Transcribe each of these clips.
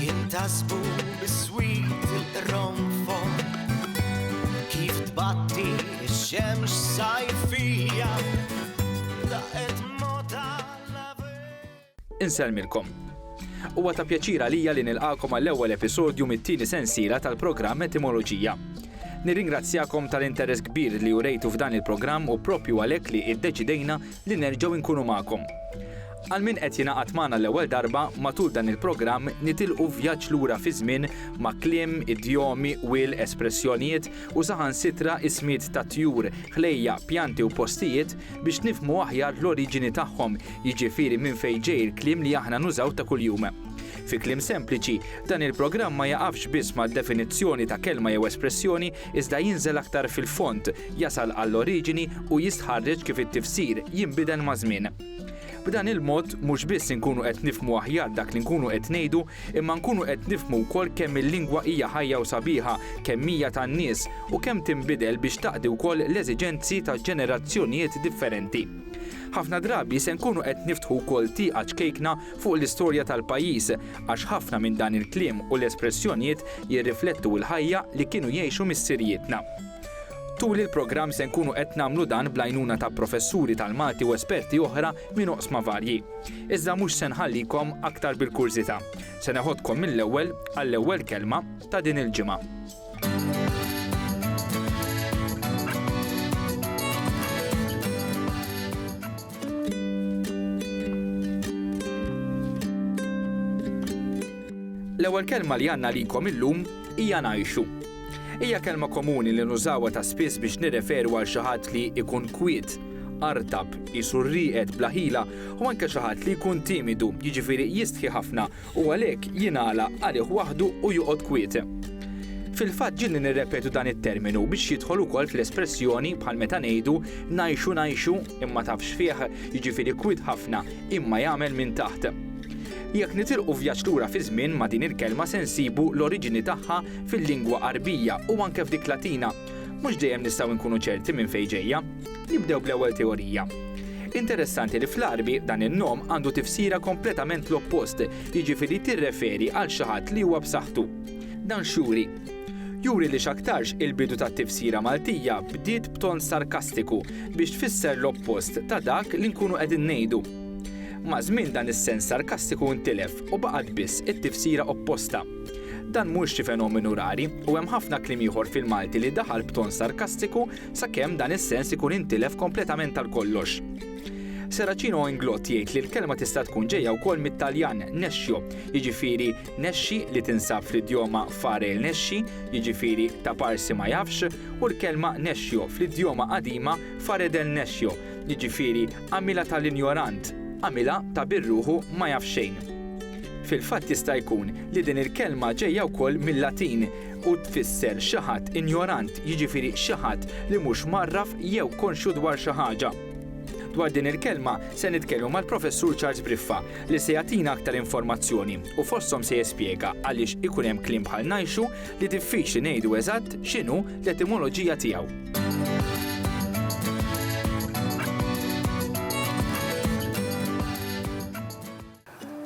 Jintasbu biswit il-qronfon Kif tbatti x-xemx sajfija Daqet mota Inselmilkom. Huwa ta' pjaċir għalija li nilqakom għall-ewwel episodju mit-tieni sensiela tal-programm Etimoloġija. Nirringrazzjakom tal-interess kbir li urejtu f'dan il-programm u propju għalhekk li iddeċidejna li nerġgħu nkunu magħkom. Għal min qed jingħaqad magħna l-ewwel darba, matul dan il-programm nitilqu vjaġġ lura fiż-żmien ma' kliem, idjomi, wil, espressjonijiet u saħansitra ismijiet ta' tjur, ħlejjaq, pjanti u postijiet biex nifhmu aħjar l-oriġini tagħhom, jiġifieri minn fejn ġej il-kliem li aħna nużaw ta' kuljum. Fi kliem sempliċi, dan il-programm ma jaqafx biss mad-definizzjoni ta' kelma jew espressjoni iżda jinżel aktar fil-fond, jasal għall-oriġini u jistħarreġ kif it-tifsir jinbidel maż-żmien. B'dan il-mod mhux biss inkunu qed nifhmu aħjar dak li nkunu qed ngħidu, imma nkunu qed nifhmu wkoll kemm il-lingwa hija ħajja u sabiħa, kemm hija tan-nies, u kemm tinbidel biex taqdi wkoll l-eżiġenzi ta' ġenerazzjonijiet differenti. Ħafna drabi se nkunu qed niftħu wkoll tieqa ċkejkna fuq l-istorja tal-pajjiż, għax ħafna minn dan il-kliem u l-espressjonijiet jirriflettu l-ħajja li kienu jgħixu missirijietna. Tul il-programm se nkunu qed nagħmlu dan bl-għajnuna ta' professuri tal-Malti u esperti oħra minn oqsma varji. Iżda mhux se nħallikom aktar bil-kurżità. Se neħodkom mill-ewwel għall-ewwel kelma ta' din il-ġimgħa. L-ewwel kelma li għandna likom illum hija ngħixu. Hija kelma komuni li nużawha ta' spiss biex nirreferu għal xi ħadd li jkun kwiet, artab, qisu rrieqed, bla ħila, u anke xi ħadd li jkun timidu, jiġifieri jistħi ħafna, u għalhekk jingħalaq għalih waħdu u joqgħod kwiet. Fil-fatt ġieli nirrepetu dan it-terminu biex jidħol ukoll fl-espressjoni bħal meta ngħidu ngħixu ngħixu imma tafx fih, jiġifieri kwiet ħafna imma jagħmel minn taħt. Jekk nitilqu vjaġġ lura fiż-żmien ma' din il-kelma se nsibu l-oriġini tagħha fil-lingwa Għarbija u anke f'dik Latina, mhux dejjem nistgħu nkunu ċerti minn fejn ġejja. Nibdew bl-ewwel teorija. Interessanti li fl-Għarbi dan in-nom għandu tifsira kompletament l-oppost, jiġifieri tirreferi għal xi ħadd li huwa b'saħħtu. Dan x'juri? Juri li x'aktarx il-bidu tat-tifsira Maltija bdiet b'ton sarkastiku biex tfisser l-oppost ta' dak li nkunu qegħdin ngħidu. Maż-żmien dan is-sens sarkastiku ntilef u baqgħet biss it-tifsira opposta. Dan mhux xi fenomenu rari u hemm ħafna kliem ieħor fil-Malti li daħal b'ton sarkastiku sakemm dan is-sens ikun intilef kompletament għal kollox. Seracino Inglott jgħid li l-kelma tista' tkun ġejja wkoll mit-Taljan nexxio, jiġifieri nexxi li tinsab fl-idjoma fare il nexxi, jiġifieri ta' parsi ma jafx, u l-kelma nexxio fl-idjoma qadima fare del nexxio, jiġifieri għamilha tal-injorant, għamilha ta' birruħu ma jaf xejn. Fil-fatt jista' jkun li din il-kelma ġejja wkoll mil-Latin u tfisser xi ħadd injorant, jiġifieri xi ħadd li mhux mgħarraf jew konxju dwar xi ħaġa. Dwar din il-kelma se nitkellmu mal-Professur Charles Briffa li se jagħtina aktar informazzjoni u fosthom se jespjega għaliex ikun hemm kliem bħal ngħixu li diffiċli ngħidu eżatt x'inhu l-etimoloġija tiegħu.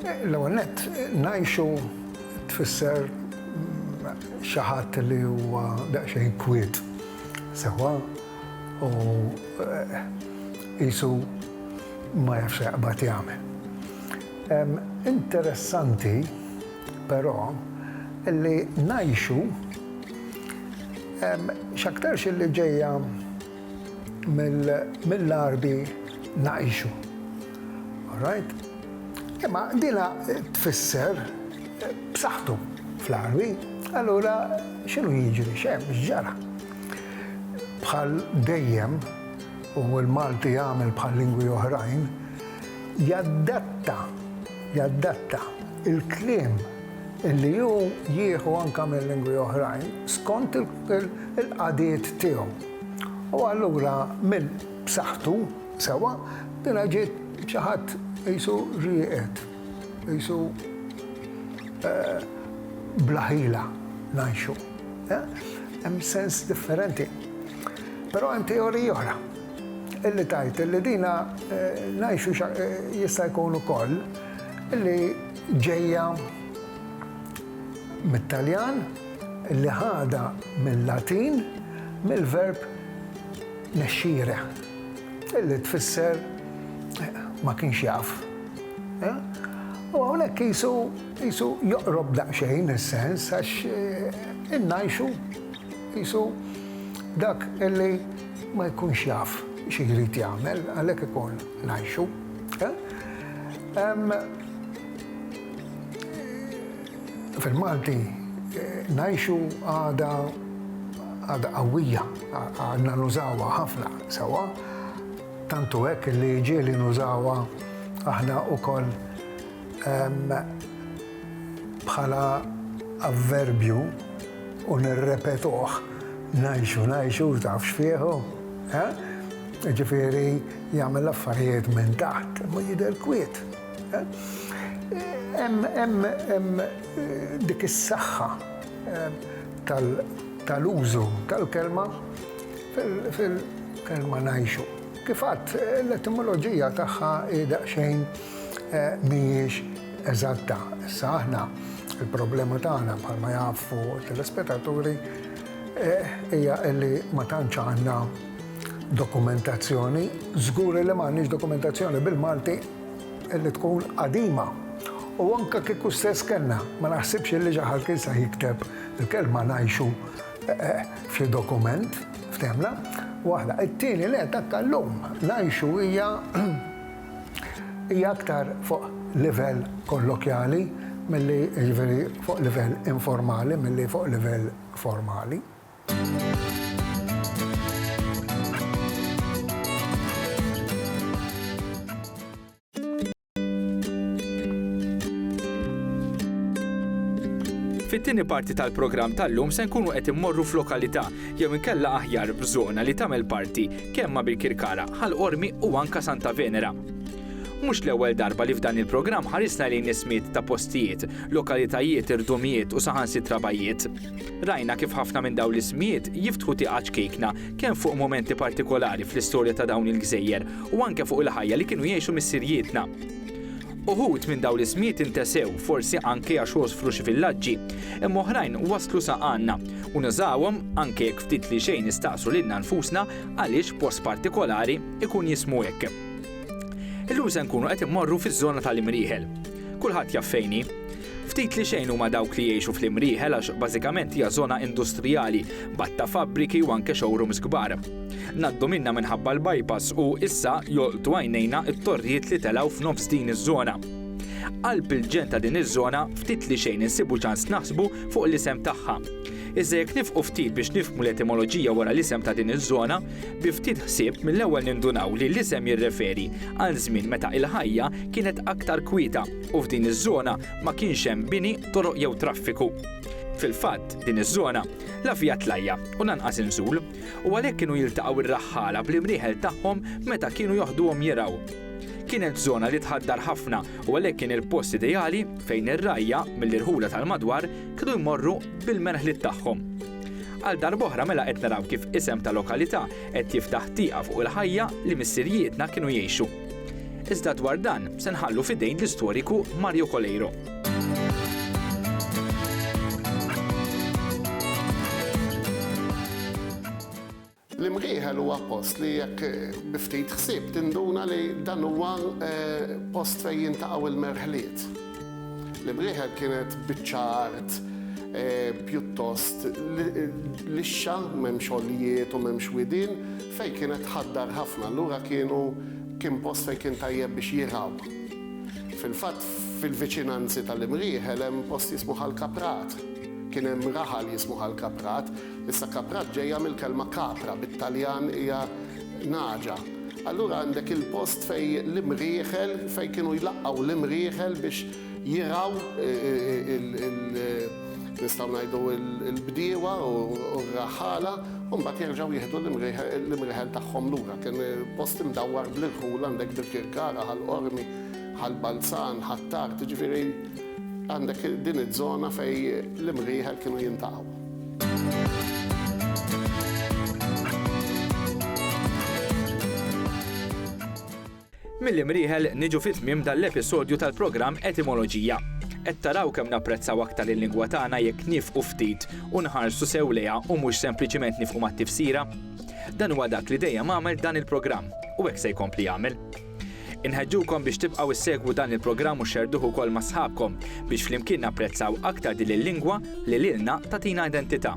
L-ewwel nett, ngħixu tfisser xi ħadd li huwa daqsxejn kwiet sewwa u qisu ma jafx se jaqbad jagħmel. Interessanti, però, li ngħixu x'aktarx li ġejja mill-arbi naqixu. Alright? Imma dina tfisser b'saħħtu fl-arbi, allura x'inhu jiġri xem x'ġara. Bħal dejjem u l-Malti jagħmel bħal lingwi oħrajn, jaddatta, jaddatta il-kliem illi hu jieħu anke minn lingwi oħrajn skont il-qadiet tiegħu. U allura minn b'saħħtu, sewwa, dina ġiet xi ħadd qisu rieqed, qisu bla ħila ngħixu. Hemm sens differenti. Però hemm teorija oħra illi tgħid illi dina ngħixu jista' jkun ukoll illi ġejja mit-Taljan, li ħadha mil-Latin mill-verb nescire, li tfisser ma kienx jaf. U hawnhekk qisu qisu joqrob daqsxejn is-sens għax innajxu qisu dak li ma jkunx jaf xi jrid jagħmel għalhekk ikun ngħixu. Fil-Malti ngħixu għada għada qawwija, għadna nużawha ħafna sewwa, tant hu hekk li ġieli nużawha aħna wkoll bħala avverbju u nirrepetuh, ngħixu, ngħixu, tafx fih hu, eh? Jiġifieri jagħmel l-affarijiet minn taħt, imma jidher kwiet. Hemm dik is-saħħa tal-użu tal-kelma fil-kelma ngħixu. Kif għadt, l-etimoloġija tagħha hi daqsxejn mhijiex eżatta. Issa aħna, il-problema tagħna bħalma jafu t-telespetaturi hija li ma tantx għandna dokumentazzjoni, żgur li m'għandniex dokumentazzjoni bil-Malti, li tkun qadima u anke kieku stess kellna, ma naħsibx li xi ħadd kien sah jikteb il-kelma ngħixu f'xi dokument, ftehmna? Waħda. It-tieni nett anke llum ngħixu hija hija aktar fuq livell kollokjali milli jiġifieri fuq livell informali milli fuq livell formali. Fit-tieni parti tal-programm tal-lum se nkunu qed immorru f'lokalità jew inkella aħjar f'żona li tagħmel parti kemm ma' Birkirkara, Ħal Qormi u anka Santa Venera. Mhux l-ewwel darba li f'dan il-programm ħarisna lejn ismiet ta' postijiet, lokalitajiet, irdumijiet u saħansitra bajjiet. Rajna kif ħafna minn dawn l-ismijiet jiftħu tieqa ċkejkna kemm fuq mumenti partikolari fl-istorja ta' dawn il-gżejjer u anke fuq il-ħajja li kienu jgħixu missirjietna. Uħud minn dawn l-ismijiet intesew, forsi anke għax għosfru xi villaġġi, imma oħrajn waslu sa għandna u nużawhom, anke jekk ftit li xejn nistaqsu lilna nfusna għaliex post partikolari jkun jismu hekk. Illum se nkunu qed immorru fiż-żona tal-Imrieħel. Kulħadd jaf fejn hi. Ftit li xejn huma dawk li jgħixu fl-Imrieħel għax bażikament hija żona industrijali, b'għadd fabbriki u anke showrooms kbar. Ngħaddu minnha minħabba l-bypass u, issa, jolqtu għajnejna t-torrijiet li telgħu f'nofs din iż-żona. Qalb il-ġenn ta' din iż-żona ftit li xejn insibu ċans naħsbu fuq l-isem tagħha. Iżda jekk nifqu ftit biex nifhmu l-etimoloġija wara l-isem ta' din iż-żona, bi ftit ħsieb mill-ewwel nindunaw li l-isem jirreferi għal żmien meta il-ħajja kienet aktar kwieta, u f'din iż-żona ma kienx hemm bini, toroq jew traffiku. Fil-fatt, din iż-żona la fiha tlajja' u lanqas inżul, u għalhekk kienu jiltaqgħu r-raħħala bl-imrieħel tagħhom meta kienu joħduhom jirgħu. Kienet żona li tħaddar ħafna u għalhekk kien il-post ideali fejn ir-rgħajja mill-irħula tal-madwar kienu jmorru bil-merħliet tagħhom. Għal darb'oħra mela qed naraw kif isem ta' lokalità qed jiftaħ tieqa fuq il-ħajja li missirijietna kienu jgħixu. Iżda dwar dan se nħallu f'idejn l-istoriku Mario Coleiro. L-imħieħel huwa post li jekk biftit ħsieb tinduna li dan huwa eh, post fejn jintaqgħu l-merħliet. L-imħieħel kienet biċċa art eh, pjuttost lixxa, m'hemmx xogħlijiet u m'hemmx widin, Fejn kienet tħaddar ħafna, allura kienu kien post fejn kien tajjeb biex jirgħu. Fil-fatt, fil-viċinanzi tal-Imrieħel hemm post jismu Ħal Kaprat. Kien hemm raħal jismu Ħal Kaprat. Issa Kaprat ġejja mill-kelma capra, bit-Taljan hija nagħġa. Allura għandek il-post fejn l-Imrieħel, fejn kienu jlaqqgħu l-Imrieħel biex jirgħaw nistgħu ngħidu l-bdiewa u r-raħħala u mbagħad jerġgħu jieħdu l-imrieħel tagħhom lura. Kien post imdawwar bl-irħul, għandek Birkirkara, Ħal Qormi, Ħal Balzan, Ħ'Attard, jiġifieri għandek din iż-żona fejn l-imrieħel kienu jintaqgħu. Mill-imrieħel niġu fi tmiem dan l-episodju tal-programm Etimoloġija. Qed taraw kemm napprezzaw aktar il-lingwa tagħna jekk niefqu ftit u nħarsu sew lejha u mhux sempliċiment niefqu mat-tifsira? Dan huwa dak li dejjem għamel dan il-programm u hekk se jkompli jagħmel. Inħeġġukom biex tibqgħu ssegwu dan il-programm u xxerrduh ukoll ma' sħabkom biex flimkien napprezzaw aktar din il-lingwa li lilna tagħtina identità.